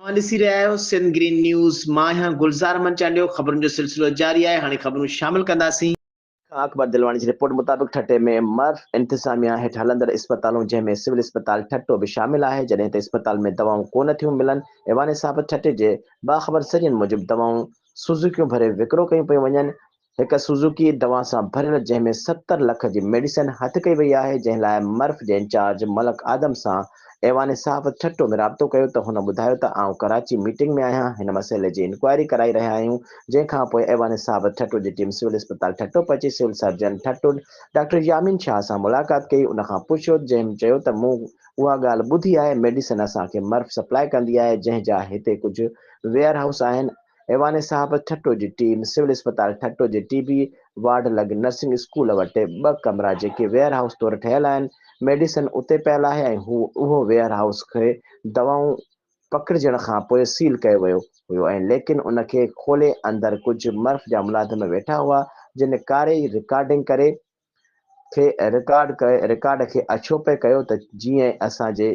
اوهان ڏسي رهيا آهيو سنڌ گرين نيوز مان آهيان گلزار احمد چانڊيو خبرن جو سلسلو جاري آهي هاڻي خبرون شامل ڪنداسين. خان اڪبر دلواڻي جي رپورٽ مطابق ٺٽي ۾ مرف انتظاميا هيٺ هلندڙ اسپتالون جنهن ۾ سول اسپتال ٺٽو به شامل آهي جڏهن ته اسپتال ۾ دوائون ڪونه ٿيون ملن ايوان صاحب ٺٽي جي باخبر ذريعن موجب دوائون سوزوڪيون ڀري وڪرو ڪيون پيون وڃن هڪ سوزوڪي دوان سان ڀريل جنهن ۾ ستر لک جي ميڊيسن هٿ ڪئي وئي آهي جنهن لاء مرف جي انچارج ملڪ آدم سان ايوان صحافت ٺٽو ۾ رابطو ڪيو ته هن ٻڌايو ته آئون ڪراچي ميٽنگ ۾ آهيان هن مسئلي جي انڪوائري ڪرائي رهيا آهيون جنهن کانپوء ايوان صحافت ٺٽو جي ٽيم سول اسپتال ٺٽو پهچي civil surgeon Thatta doctor Yameen Shah سان ملاقات ڪئي ان کان پڇيو جنهن چيو ته مون اها ڳالهه ٻڌي آهي ميڊيسن اسان کي مرف سپلاء ڪندي آهي جنهن جا هتي ڪجهه ويئر هائوس آهن ايوان صاحب ٺٽو جي ٽيم سول اسپتال ٺٽو جي ٽي بي وارڊ لڳ نرسنگ اسڪول وٽ ٻه ڪمرا جيڪي ويئر هائوس طور ٺهيل آهن ميڊيسن اتي پيل آهي ۽ هو اهو ويئر هائوس کي دوائون پڪڙجڻ کان پوء سيل ڪيو ويو هيو ۽ ليڪن ان کي کولي اندر ڪجهه مرف جا ملازم ويٺا هئا جن ڪاري رڪارڊنگ ڪري کي رڪارڊ ڪيو رڪارڊ کي اڇو پئي ڪيو ته جيئن اسان جي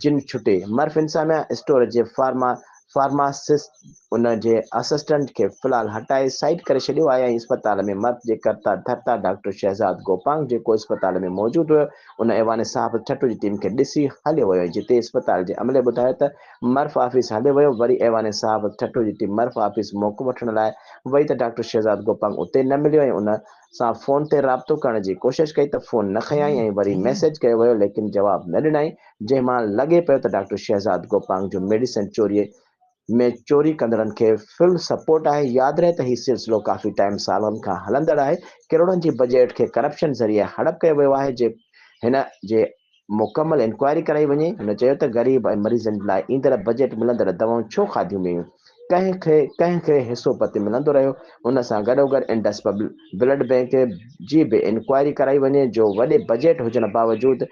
جن ڇٽي مرف انساميا اسٽور جي فارما فارماسسٽ ان جي اسسٽنٽ کي فلحال هٽائي سائيڊ ڪري ڇڏيو آهي ۽ اسپتال ۾ مرف جي ڪرتا ڌرتا ڊاڪٽر شهزاد گوپانگ جيڪو اسپتال ۾ موجود هيو ان ايوان صاحب ٺٽو جي ٽيم کي ڏسي هليو ويو ۽ جتي اسپتال جي عملي ٻڌايو ته مرف آفيس هليو ويو وري ايوان صاحب ٺٽو جي ٽيم مرف آفيس موقعو وٺڻ لاء وئي ته ڊاڪٽر شهزاد گوپانگ اتي نه مليو ۽ ان سان فون تي رابطو ڪرڻ جي ڪوشش ڪئي ته فون نه کنيائين ۽ وري ميسيج ڪيو ويو ليڪن جواب نه ڏنائين جنهن مان لڳي پيو ته ڊاڪٽر شهزاد گوپانگ جو ميڊيسن چوري ۾ چوري ڪندڙن کي فل سپورٽ آهي ياد رهي ته هي سلسلو ڪافي ٽائيم سالن کان هلندڙ آهي ڪروڙن جي بجيٽ کي ڪرپشن ذريعي هڙپ ڪيو ويو آهي جي هن جي مڪمل انڪوائري ڪرائي وڃي، هن چيو ته غريب ۽ مريضن لاء ايندڙ بجيٽ ملندڙ دوائون ڇو کاڌيون ويون، ڪنهن کي ڪنهن کي حصو پتي ملندو رهيو، ان سان گڏوگڏ انڊس بلڊ بئنڪ جي به انڪوائري ڪرائي وڃي جو وڏي بجيٽ هجڻ باوجود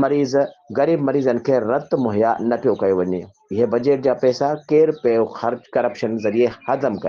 مريض غريب مريضن کي رت مهيا نه پيو ڪيو وڃي، اهي بجيٽ جا پئسا ڪير پيو ڪرپشن ذريعي هضم ڪري.